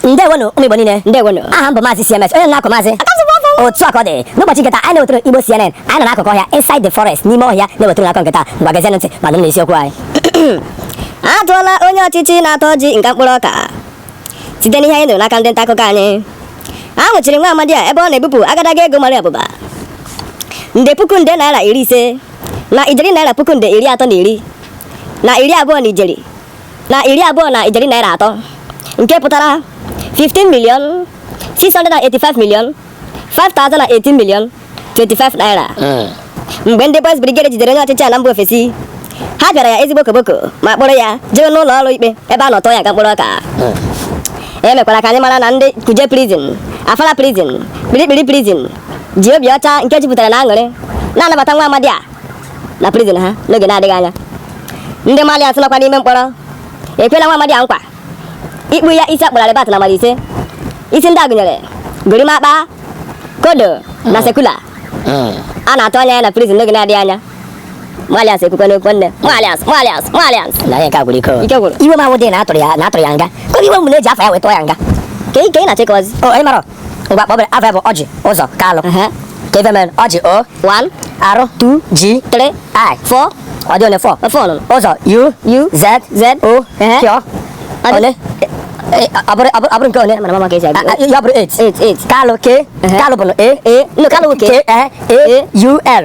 ndewonu ụmụ igbo niile ndewonu aha m bụ maazị cms onye na-akọ maazị otu a ka ọ dị n'ụbọchị nke taa anyị na-ewetara igbo cnn anyị nọ n'akụkụ ọhịa inside the forest n'ime ọhịa na-ewetara akụkọ nke taa ngwa gezienụ ntị ma nụrụnụ isiokwu anyị a tụọla onye ọchịchị senatọ ọjị nga mkpụrụ ọka site n'ihe anyị nụrụ n'aka ndị nta akụkọ anyị a nwụchiri nwa amadi a ebe ọ na-ebupụ agadaga ego mara abụba nde puku nde naira iri ise na ijeri naira puku nde iri atọ na iri na iri abụọ na ijeri na iri abụọ na ijeri naira atọ nke pụtara 15 million 685 million 5018 million 25 naira hmm. mgbe ndị boys brigade jidere onye ọchịchị ala mba ofesi ha pịara ya ezigbo koboko ma kpọrọ ya jee n'ụlọ ọrụ ikpe ebe a nọ tụọ ya nga mkpụrụ ọka hmm. e mekwara ka anyị mara na ndị kuje prison afara prison kpirikpiri prison ji obi ọcha nke jupụtara na aṅụrị na-anabata nwa amadi a na prison ha n'oge na-adịghị anya ndị Marlians nọkwa n'ime mkpọrọ ekwela nwa amadi a nkwa ịkpụ ya isi a kpụrụ arịbat na mmadụ ise isi ndị a gụnyere gorimakpa kodo na hmm. sekula hmm. a na-atụ anya ya na prison n'oge na-adịghị anya Marlians ekwukwa n'okwu nne Marlians Marlians Marlians na ihe nke a gwụrụ ike ike gwụrụ iwe m awụdị na a tụrụ ya na a tụrụ ya nga ka iwe m na e ji afa ya wee tụọ ya nga ka ị na-achịkọzi oh, ngwa kpọbere afa ya bụ ọjị ụzọ kalụ ka ife mere ọjị o 1 r 2 j 3 i 4 ọ dị ole 4 4 nọ ụzọ u u z z o Ehe. pịọ Ọ dị- ole Eh, ọ bụrụ- ọ bụrụ- ọ bụrụ nke ole mana mama ka e si Ah, ah, agụ ya bụrụ 8 8 8 kalụ k Ehe. kalụ bụ na a a no kalụ k k a a u l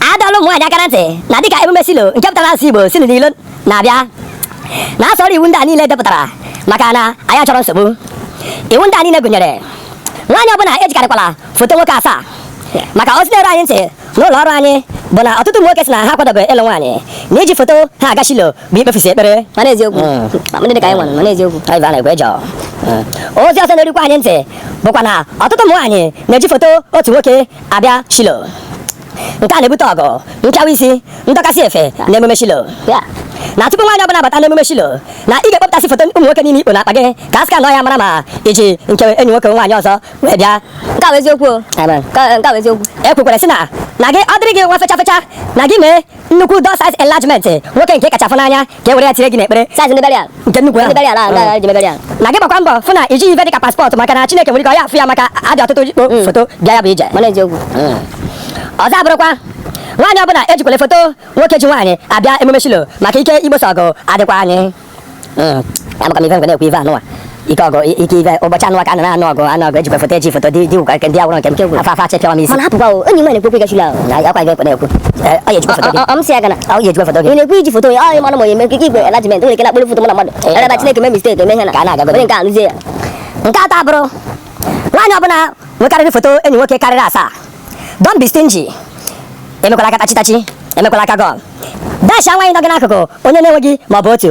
a dọọla ụmụ nwaanyị aka na ntị na dịka emume shilo nke pụtara asụsụ igbo si n'ilo na-abịa na ha soro iwu ndị a niile e depụtara maka na anyị achọrọ nsogbu iwu ndị a niile gụnyere nwaanyị ọbụla ejikarịkwala foto nwoke asaa maka ozi na-eru anyị ntị n'ụlọ ọrụ anyị bụ na ọtụtụ ụmụ nwoke sị na ha akwadobe ịlụ nwaanyị na iji foto ha aga shilo bụ ikpefusi ekpere mana eziokwu mm. ndị dị ka anyị nwere mana eziokwu anyị na-ekwe jọọ ozi ọzọ na-erukwa anyị ntị bụkwa na ọtụtụ ụmụ nwaanyị na-eji foto otu nwoke abịa Shilo nke a na-ebute ọgụ nchawa isi ndọkasị efe na emume Shilo na tupu nwaanyị ọbụla bata n'emume Shilo na ị ga-ekpọpụtasị foto ụmụ nwoke niile i kpo n'akpa gị ka a scanọ ya mara ma i ji nke enyi nwoke nwaanyị ọzọ wee bịa nke a bụ eziokwu nke a bụ eziokwu e kwukwere sị na na gị ọ dịrị gị nwa fecha fecha na gị mee nnukwu door size enlargement nwoke nke ị kacha fụ n'anya ka e were ya tinye gị n'ekpere size ndị burial nke nnukwu ahụ ndị burial ahụ ndị ji burial na gị gbakwa mbọ fụ na i jighị ife dịka paspọtụ maka na Chineke nwere ike ọ ya afụ ya maka a dị ọtụtụ ikpo mm. foto bịa ya bụ ije mana eziokwu mm. ọzọ abụrụkwa nwaanyị ọbụla ejikwele foto nwoke ji nwaanyị abịa emume Shilo maka ike igbosa ọgụ adịkwa anyị mm. amakwa m ife nke a na-ekwu ife anụwa ike ọgụ ike ibe ụbọchị a nụwa ka a na-anụ ọgụ anụ ọgụ ejikwa foto eji foto dị dị ụkwa nke ndị agwụrụ nke m kegwu afọ afọ achị pịawa m isi mana hapụkwa o enyi m na-ekwu okwu ịga Shiloh na ya kwa gị ekwe na-ekwu Eh, ọ ya ejikwa foto gị ọ m si ya gana ọ ya ejikwa foto gị ị na-ekwu iji foto ya ọ ị mara ma onye mekike igwe enlargement nwere ike na-akpụrụ foto mụ na mmadụ Eh, ebe Chineke mee mistake eme ihe na Ka a na-agagodo. onye nke a lụzie ya nke atọ abụrụ nwaanyị ọbụla nwekarịrị foto enyi nwoke karịrị asaa don't be stingy emekwala aka tachitachi emekwala aka gum dasha nwaanyị nọ gị n'akụkụ onye na-enweghị ma ọ bụ otu